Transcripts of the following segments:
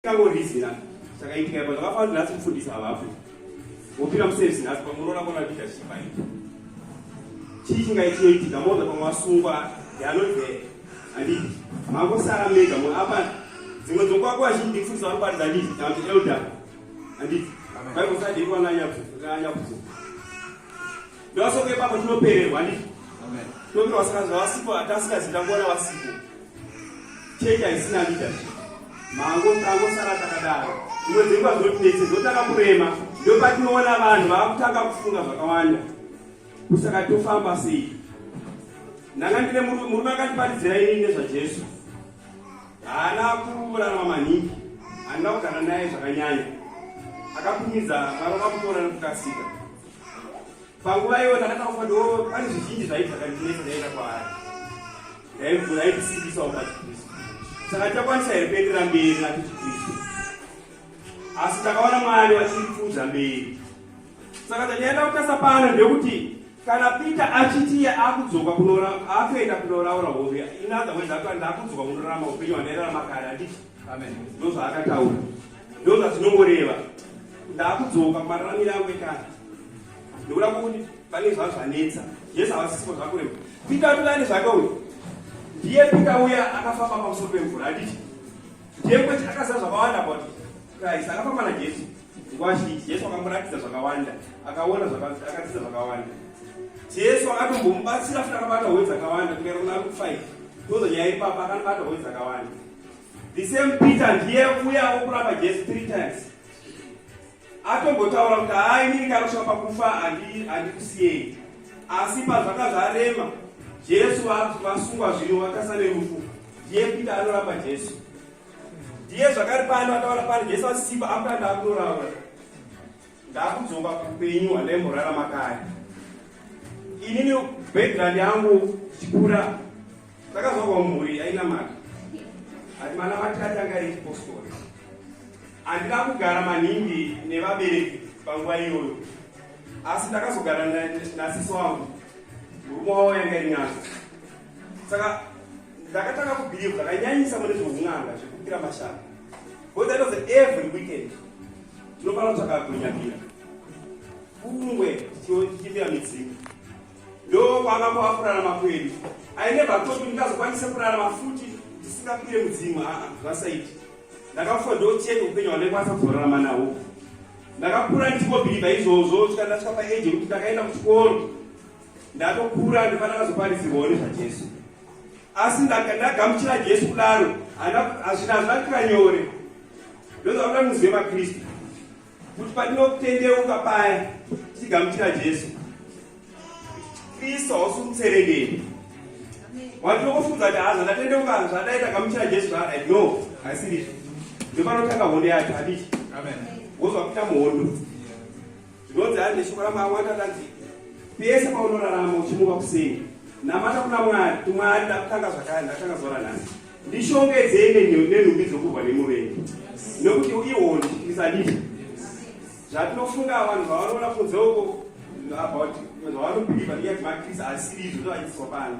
Kangorizi na chakaitika ipo zvakafanana nhasi mufundisi havapo. Wopira muservice nhasi pamunoona kona leadership ayi. Chii chingaitika moda pamwe asungwa yanove andi mango sara mega mu apa dzimwe dzokwa kwa zhinji mufundisi vari paridza ndi tambi elder andi. Bai kusadi kwa nanya kuzo nanya kuzo. Ndosoko ipapo tinopererwa ndi. Amen. Ndokuti wasikanzwa wasipo atasikanzi tangoona wasipo. Chechi haisina leadership. Mango tango sara takadaro. Imwe dzenguva zvotinetse zvotanga kurema ndopatinoona vanhu vakutanga kufunga zvakawanda. Kusaka tofamba sei? Ndanga ndine murume akandiparidzira ini nezvaJesu. Haana kurarama maningi. Handina kugara naye zvakanyanya. Akakumidza marova kutora nekukasika. panguva iyoyo takataurwa ndo pane zvizhinji zvaiti zvakandineso ndaenda kwaari ndaibvuraibisiisawo pachikristu saka takwanisa here kuendera mberi nachikristu asi takaona mwari vachipfuudza mberi saka tanyaenda kutasa pano ndekuti kana peter achitiye akudzoka akuenda kunoraura hove inother word akuenda akudzoka kunorarama upenyu hwandairarama kare anditi ndozvaakataura Ndoo zvazvinongoreva. Ndakudzoka kumararamiro angu ekare. Ndokuda kuti pane zvazvanetsa. Jesu havasisipo zvakureva. Pita tulani zvake uyu. Ndiye Pita uya akafamba pamusoro pemvura aditi. Ndiye kwete akaziva zvakawanda about Christ. Akafamba naJesu. Nguva zhinji Jesu akamuratidza zvakawanda. Akaona zvakadzidza zvakawanda. Jesu akatombomubatsira futi akabata hove dzakawanda kuenda kuna Luke 5. Ndozonyaya ipapa akanobata hove dzakawanda. The same Peter ndiye uya okuramba Jesu three times. Atombotaura kuti haa inini kana kusvika pakufa handikusiyei. Asi pazvanga zvarema Jesu vasungwa zvino vakasa nerufu. Ndiye Peter anoramba Jesu. Ndiye zvakari pano ataura pano Jesu asisimba akutanda akunoraura. ndakudzoka kupenyu handaimborarama kare inini background yangu ndichikura ndakazvarwa mhuri yainamata ati manamati atanga echipostori handina kugara maningi nevabereki panguva iyoyo asi ndakazogara nasiso wangu murume wavo yanga iri nyanza saka ndakatanga kubhiliva ndakanyanyisa mune zveun'anga zvekukira mashaka because that was every weekend Tinofana kutsvaka kunyamira kungwe tichimbira midzimu ndokwanga kwavakurara makwedu aine bhatopi ndingazokwanise kurara mafuti ndisingapire mudzimu aa zvasaiti ndakafa ndocheka upenyu hwandaikwanisa kuzorarama nawo ndakakura ndichingobhiribha izvozvo chikanda chika paeji yekuti ndakaenda kuchikoro ndatokura ndifana kazoparisirwawo nezvajesu asi ndagamuchira jesu kudaro hazvina hazvina zvakira nyore ndozvakuda muzive makristu kuti patinokutendeuka paya tichigamuchira jesu kristu hausi kutseredeni watinokufunza kuti haza ndatendeuka zvadaita gamuchira jesu zvadai no haisirito ndopanotanga hondo yacho hadii wozvakuita muhondo Zvinonzi hari neshoko ramwari watandanzi pese paunorarama uchimuka kuseni namata kuna mwari tumwari ndakutanga zvakare ndakutanga zora nhasi ndishongedzei nenhumbi dzokurwa nemuvengi nokuti ihondi isadii zvatinofunga vanhu vavanoona kunze uko about zvavanobhiliva neyati makristu asiri izvo zvaiswa pano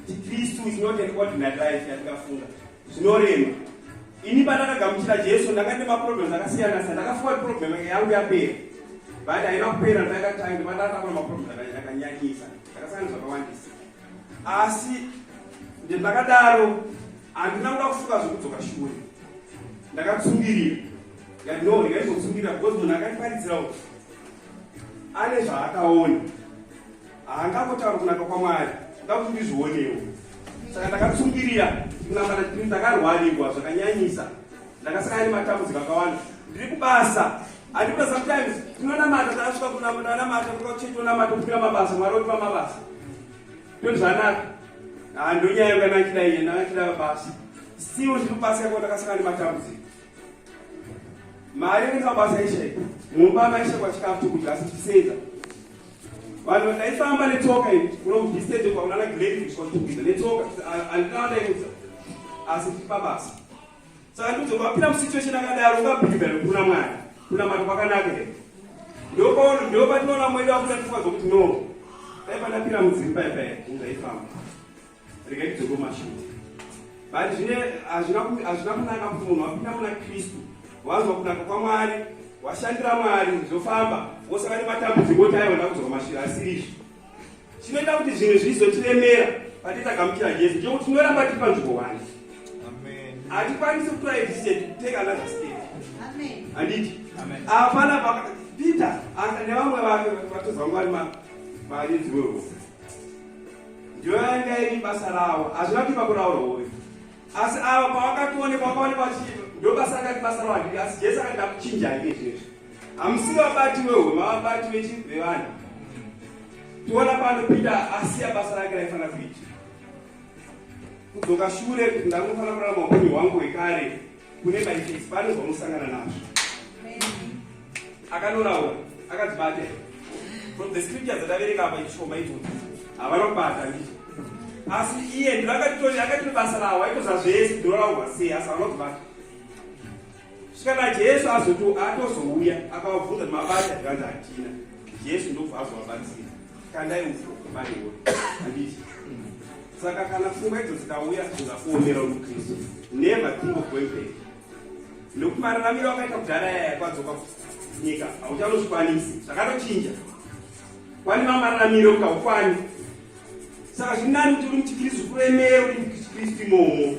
chikristu is not an ordinary life yatingafunga zvinorema ini pandakagamuchira jesu ndanga ndi maproblems akasiyana siyana ndakafunga kuti problem yake yangu yapera but haina kupera ndakatanga pandatakura maproblems akanyanyisa ndakasangana zvakawandisa asi ndakadaro handina kuda kufunga zvekudzoka shure ndakatsungirira yandoo ndikaizotsungirira because munhu akandiparidzirawo ane zvaakaona Hanga kutaura kunaka kwaMwari, ndakuti ndizvionewo. Saka ndakatsungirira kunamata kuti ndakarwarirwa zvakanyanyisa. Ndakasangana nematambudziko akawanda. Ndiri kubasa. Andikuda sometimes tinonamata tasvika kunamata namata kuchaitonamata kupira mabasa Mwari otipa mabasa. Ndoti zvanaka. Ah ndonyaya yanga ndachida iye ndachida mabasa. Still ndiri kubasa yako ndakasangana nematambudziko. Mari ndikabasa ishe. Mumba maishe kwachikafu chokudya asi chisenza. vanhu vakaifamba netsoka ini kuno mudistende kwakunana glenfish kwatikuita netsoka andinaa ndaiudza asi tipa basa saka ndiudza kwapinda musituation akadaro ungabhidha nekuna mwari kuna mari kwakanaka here ndopaona ndopatinoona mwedu akuta tifazo kuti no dai pandapinda mudzimba ipaye ungaifamba regai tidzoko mashoko but zvine hazvina kunaka kuti munhu wapinda muna kristu wanzwa kunaka kwamwari washandira mwari zvofamba wosaka nematambudziko kuti aiona kudzoka mashira asiri izvi chinoita kuti zvinhu zvizotiremera patitagamuchira jesu chokuti tinoramba tiri panzvimbo wani hatikwanisi kutora decision take another state handiti hapana peter nevamwe vake vatozwa mwari maridzi wehofu ndiyo yanga iri basa ravo hazvina kuti vakuraura uyu asi ava pavakatoonekwa vakaonekwa vachii ndo basa rakati basa ravo handii asi jesu akati ndakuchinja hake izvezvo hamusi vabati wehwe mavabati vechinhu vevanhu tiona pano pita asiya basa rake raifanira kuita kudzoka shure kuti ndangofanira kurarama upenyu hwangu hwekare kune maitesi pane zvamusangana nazvo akanoraura akazvibata from the scripture dzataverenga apa ishoma idzodzo havana kubata ndii asi iye ndiro akatitoni akatino basa rawo aitoza zvese ndinoraurwa sei asi havana kubata svikana jesu azoto atozouya akavabvunza kuti mabata zvikanzi hatina jesu ndobva azovabatsira kandai uko maiwe handiti saka kana pfungwa idzo dzikauya ungakuomera mukristu never think of going back nokuti mararamiro wakaita kudhara yaya kwadzoka nyika hauchanozvikwanisi zvakatochinja kwani mamararamiro kukaukwanyi saka zviri nani kuti uri muchikristu kuremero uri muchikristu imomo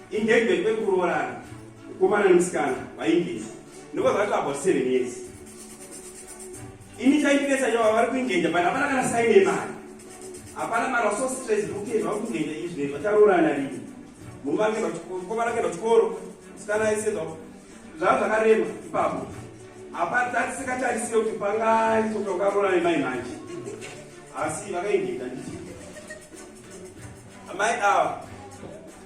Engagement kwekuroorana mukomana nemusikana vaingizi ndokuva vaitwa about seven years ini chaindinetsa yavo vari kuingenja but hapana kana saine yemari hapana mari vaso stress zvekuti zvakuingenja izvi zvinei zvacharoorana rini muvange mukomana kenda chikoro musikana aise zvavo zvakarema ipapo hapatatisikatarisiye kuti pangaitoka ukaroorana nemai manje asi vakaingenja nditi amai ava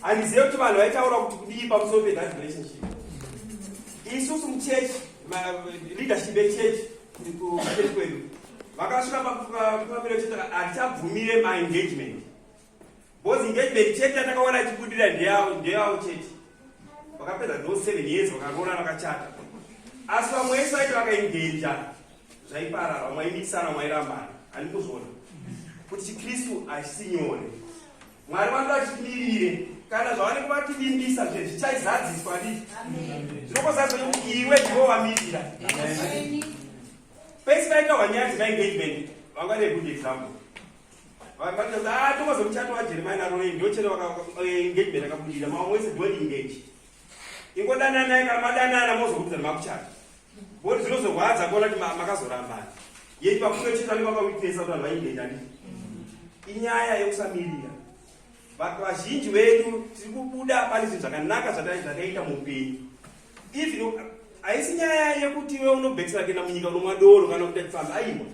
handizive kuti vanhu vaitaura kuti kudii pamusoro pethat relationship isusu muchurch leadership yechurch kuchurch kwedu vakasvika pamiro chete hatichabvumire maengagement bcause engagement chete yatakaona ichibudira ndeyavo chete vakapedza tho seven years vakaroora vakachata asi vamwe vese vaiti vakaengeja zvaiparara vamwe vaimikisana vamwe vairambana handikuzvona kuti chikristu hachisi nyore Mwari vange vachitimirire kana zvavanenge vativimbisa zve zvichaizadziswa dii zvinokozazo iwe ndivovamiririra pese vaita wanyaya dzemaengagement vanga ne good example vakatoza ah, tokozo muchato wajeremia naroe ndochere engagement eh, akabudira mamwe wese dwelling engage ingodananai kana madanana mozokudzana makuchata Bodi dzinozorwadza kuona kuti makazorambana. Yei pakuto chita ne baba witness kuti vainde ndani. Inyaya yekusamirira. Vatu vazhinji vedu tiri kubuda pane zvinhu zvakanaka zvataita muupenyu. Even haisi nyaya yekuti iwe unobhekisira kuenda munyika unomwa doro kana kuita chifambi aiwa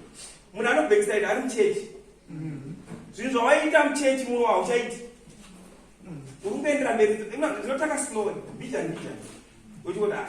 munhu anobhekisira ita ari muchechi mm-hmm. zvinhu zvawaita muchechi muno hauchaiti mm-hmm. uri kuendera mberi zvinotanga slowly mbijani mbijani uchikuti a ah,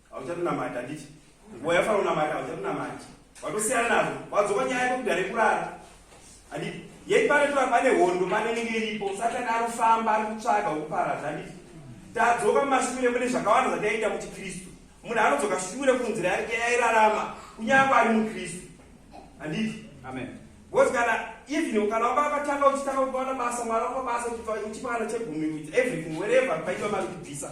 hauchatonamati handiti nguva yafana unamati hauchatonamati watosiyana nazvo wadzoka nyaya yako kudare kurara handiti yei pane tora pane hondo pane nenge iripo satani ari kufamba ari kutsvaga ukuparadza handiti tadzoka mumashure mune zvakawanda zvataiita kuti kristu munhu anodzoka shure kunzira yake yairarama kunyange ari mukristu handiti amen because kana even kana wanga wakatanga uchitanga kuona basa mwana wako basa uchipana chegumi everything wherever paitwa mari kubvisa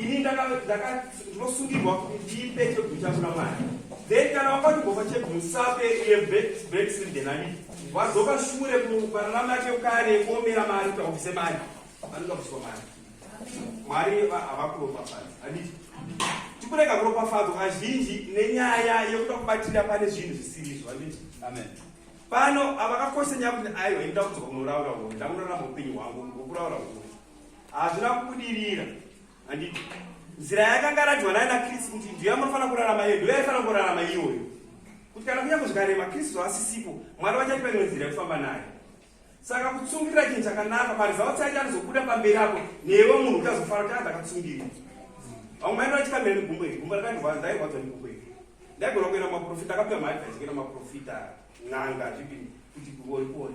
ini ndakasungirwa kuti ndipe chegumi changu namwari then kana wakandigofa chegumi usape iye breksindenani wadzoka shure kupararama yake kare kuomera mari kuti aubvise mari anoda kubviswa mari mwari havakuropafadza handiti tikurega kuropafadzwa kazhinji nenyaya yekuda kubatira pane zvinhu zvisirizvo handiti amen pano avakakoshesa nyaya kuti aiwa inoda kudzoka kunoraura uri ndakurarama upenyu hwangu ngokuraura uri hazvina kubudirira handiti nzira yakanga ratiwa naye nakristu kuti ndiyo yamanofanira kurarama iyo ndiyo yaifanira kurarama iyoyo kuti kana kunyange zvikarema kristu haasisipo mwari vachati paimwe nzira yekufamba naye saka kutsungirira chinhu chakanaka parizawo tsaiti anozobuda pamberi apo newe munhu uchazofara kuti adha akatsungirira vamwe maino vachikamira negumbo iri gumbo rakandirwadza ndairwadzwa negumbo iri ndaigona kuenda maprofita akapiwa maadvise kuenda maprofita n'anga zvipini kuti kuori kuori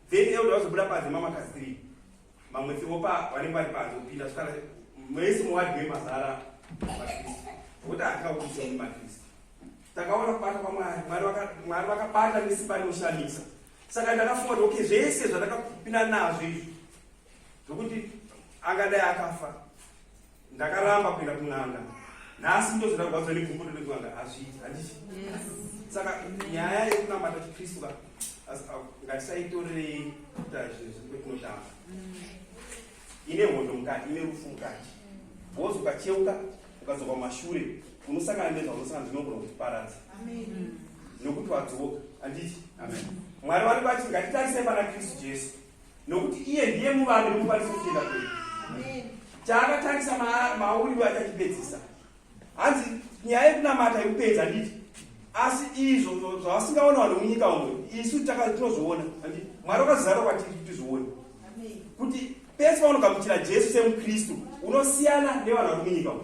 Then elder wazobuda panze mama kasi 3. Mamwe tsingopa vanenge vari panze kupinda kusara mwese muwadi wemazara maKristu. Vokuti atikakuisa mu maKristu. Takaona kubata kwaMwari, Mwari vaka Mwari vakabata nesimba rinoshamisa. Saka ndakafunga kuti okay zvese zvatakapinda nazvo izvi. Zvokuti angadai akafa. ndakaramba kuenda kun'anga nhasi ndozvina kurwadziwa nebvumbuto nekun'anga hazviiti handiti saka nyaya yekunamata chikristu ka ngatisaitorerei kuita zvinhu zvekunoshamba ine hondo mukati ine rufu mukati wozi ukacheuka ukadzoka kumashure unosangana nezvaunosangana zvinogona kutiparadza nokuti wadzoka handiti mwari vari vati ngatitarisei pana kristu jesu nokuti iye ndiye muvambi nomufaniso kutenda kwedu chaakatangisa mauri we achachipedzisa hanzi nyaya yekunamata yekupedza handiti asi izvo zvavasingaona vanhu munyika umo isu tinozoona handiti mwari wakazara kwatiri kuti tizvione kuti pese paunogamuchira jesu semukristu unosiyana nevanhu vari munyika umo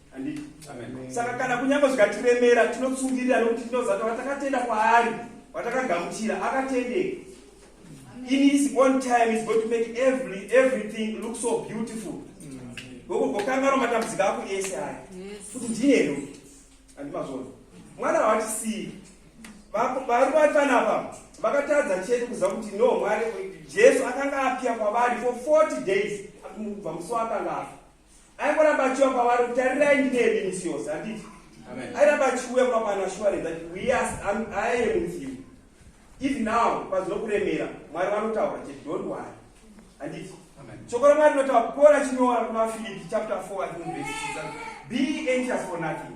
Anditi. Amen. Saka kana kunyange zvikatiremera tinotsungirira nokuti tinoziva kuti watakatenda kwaari, watakagamuchira akatendeka. In his own time is going to make every everything look so beautiful. Gogo gokangaro matambudziko ako ese aya. Kuti ndine ero. Andimazvona. Mwana hawatisiyi. Vari vatana apa vakatadza chete kuziva kuti no Mwari Jesu akanga apia kwavari for 40 days akubva musi waakanga afa. aingoramba achiwa kwavari kuti tarirai ndinemi misi yose handiti airamba achiuya kwamana ashuwarenza kuti wiyas aye mudzimu if now kwazino kuremera mwari vanotaura chete don't wari handiti shoko ramwari rinotaura paul achinyora kuna filipi chapter 4 be anxious for nothing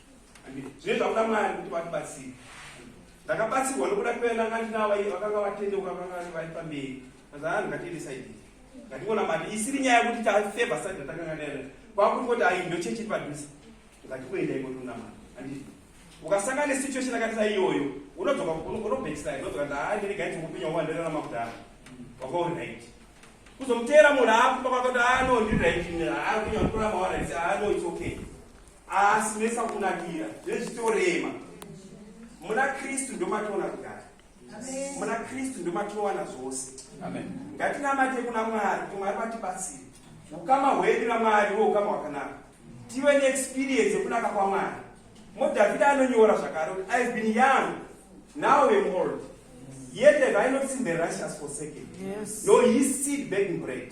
zvine zvakuda mwari kuti vatibatsire ndakabatsirwa nokuda kuenda nga ndinava iye vakanga vatendeuka vakanga vari pamberi mazanani ngatiendesaidi ngationa mari isiri nyaya yekuti tafeva sati ndatakanga ndaenda kwakuti koti ayi ndo chechi padhuze ngatikuenda ikotunda mari andii ukasanga nesituation akatisa iyoyo unodzoka unobekisa unodzoka ndaandirega iti kupinyo wandirera makudhara wakauri right kuzomuteera munhu akupa kwakati ano ndiri right akunyakura mawana isi ano it's okay asi mesa kunakira zvezvitorema muna kristu ndomatoona kugara muna kristu ndomatowana zvose ngatinamate kuna mwari kuti mwari vatibatsire ukama hwedu namwari wo ukama hwakanaka tive neexperience yekunaka kwamwari modhavhida anonyora zvakare kuti ive been young now am old yet have i not seen the righteous forsaken yes. no his seed begging bread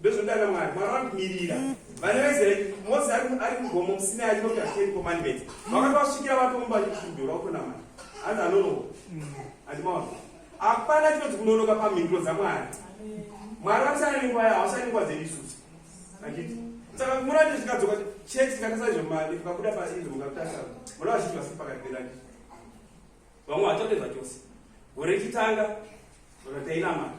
ndozodana mwari mwari vandimirira vana vaisraeri mose ari mugomo musina ariko kuta ten commandments vakanga vasvikira vatomba vachipindura kutonamata hanzi anonoka andimaona hapana chinonzi kunonoka pamhinduro dzamwari mwari vasana nenguva yavo vasana nenguva dzedu isusu anditi saka kumona kuti zvikadzoka church ikatasaizvo mari ukabuda paizvo mukatasa mona vazhinji vasiri pakati pedu anditi vamwe vatotedza chose gore chitanga vakatainamata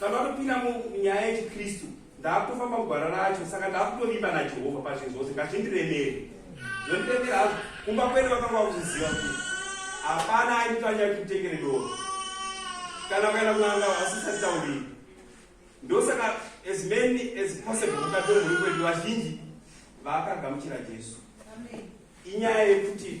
Tamatopinda munyaya yechiKristu, ndaakutofamba mugwara racho, saka ndaakutovimba naJehovha pazvinhu zvose, ngazvindiremere. Zvondiremera hazvo, kumba kwedu vakanga vakuziva kuti hapana aitanya kuti mutengere doro kana kuenda kunanga vasisati tauriri. Ndosaka as many as possible mukatore mhuri kwedu vazhinji vakagamuchira Jesu. Inyaya yekuti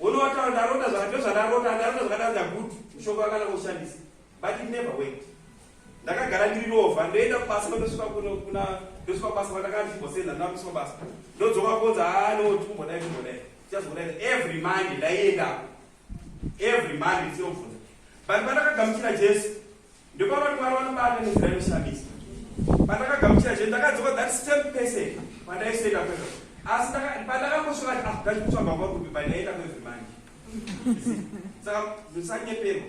Uno wataura ndarota zvaka ndozvandarota ndarota zvakadaro ndagutu mushonga wakanaka kushandisa but it never went ndakagara ndiri lova ndoenda kubasa ndosvika kuno kuna ndosvika kubasa kwandakazvibosenda ndinakusvika basa ndodzoka konza haa ah, no tikumbodai tikumbodai tichazokudai every monday ndaiendako every monday ndisiyobvunza but pandakagamuchira jesu Ndopavanhu Mwari vanobata nenzira inoshamisa. Pandakagamuchira Jesu ndakadzoka that same person pandaisoenda kwezvo. Asi pandakangosvika kuti ah dai kutsvaga kwa kupi pandaienda kwezvo manje. Saka musanyeperwa.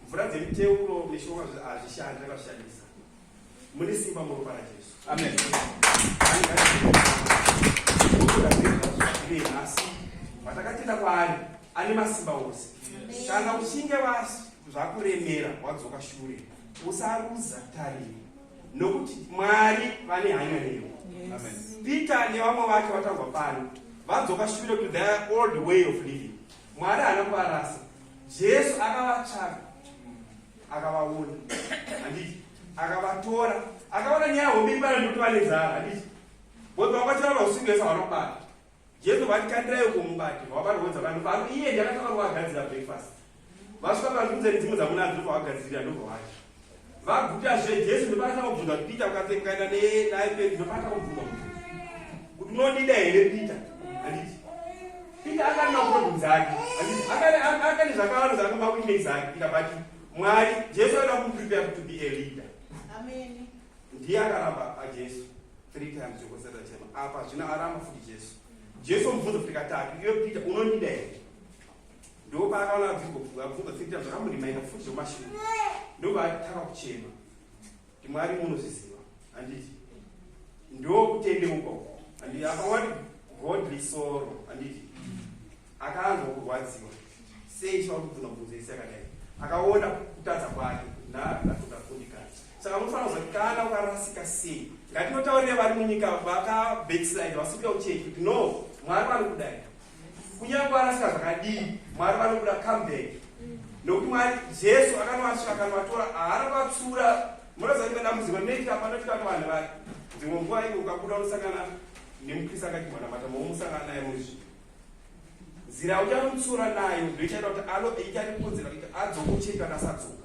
Mvura dzemuteuro mishonga hazvishandi vakashandisa. mune simba muropa rajesu amen nhasi vatakatenda kwaari ane masimba ose kana uchinge zvakuremera wadzoka shure usaruza tariro nokuti mwari vane hanya newe peter nevamwe vake vatangwa pano vadzoka shure to their old way of living mwari haana kuvarasa jesu akavatsvaka akavaona handiti akavatora akaona nyaya hombe ibara nekuti vane zara handiti boi vakwatsira vausingesa vanobata jesu vati kandirayo kumubati vavaroodza vanhu vano iye ndakatanga kuvagadzira breakfast vasvika pazvibunzani dzimwe dzamunadzo ndopavagadzirira ndopavacho vaguta zve jesu ndopakatanga kubvunza kuti peter ukatse mukaenda naye pei ndopakatanga kubvunza kuti unondida here peter handiti Peter akadana kubvunza hake akane zvakawanda zvaakamba kuitei zake Peter but Mwari Jesu aida kuprepare to be a leader Amen ndiye akaramba aJesu three times yokotsata chema apa zvino aramba futi Jesu Jesu mubvunza kuti katatu iwe Peter unondida here ndoo paakaona abvunza three times zvakamurimaira futi zvomashure ndopaatanga kuchema Kuti Mwari munozviziva handiti? Ndo kutendeuka uko handiti? Akawani godly sorrow handiti? Akanzwa kurwadziwa sei chiva kubvunza bvunzo isi yakadai? Akaona kutadza kwake naatokafundikana. Saka munofanira kuziva kana ukarasika sei. Ngatinotaurire vari munyika vaka backslide vasikuda kuchechi kuti no Mwari vanokudai Kunyange arasika zvakadii, Mwari vanokuda comeback. Nokuti Mwari Jesu akanovatsvaka akanovatora haana vatsura. Munoziva rimwe dambudziko rinoti hapana kuti kana vanhu vake dzimwe nguva iwe ukabuda unosangana nemukrista akadyiwa namata momusangana naye muzvi nzira uchamutsura nayo ndoichaita kuti alo icharipunzira kuti adzoka ucheka kasadzoka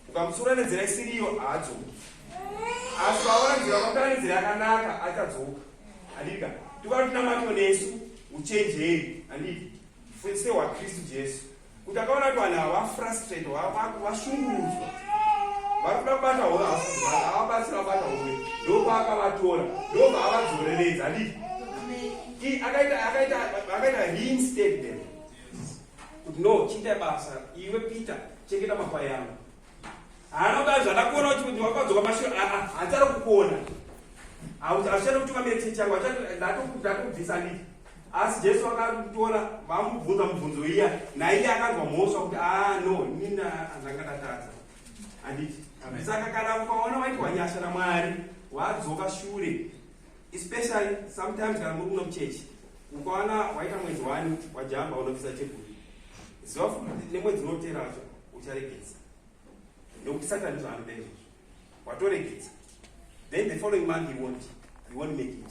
ukamutsura nenzira isiriyo haadzoka asi vaona nzira kwakana nenzira yakanaka achadzoka handika tikuva tinamatwa nesu uchenjeri handiti fwese hwakristu jesu kuti akaona kuti vanhu ava vafrustrate vashungurudzwa vari kuda kubata hove havabatsira kubata hove ndopaakavatora ndopaavadzoreredza handiti akaita reinstatement kuti no chiita basa iwe peter chengeta makwai angu Anoda zvadakuona kuti kuti wakadzoka mashiro achada kukuona. Hauchada kuti vamire chechi yangu ndatokubvisa ndii. Asi Jesu akatora vamubvunza mubvunzo iya naiye akanzwa mhosva kuti ah no inini ndanga ndatadza. Handiti? Saka kana ukaona waitwa nyasha naMwari wadzoka shure especially sometimes kana muri kuno kuchechi ukawana waita mwedzi wani wajamba unobvisa cheguri ziva futi kuti nemwedzi unotera wacho ucharegedza nekuti satani zvaanoda izvozvo watoregedza then the following month you won't, you won't make it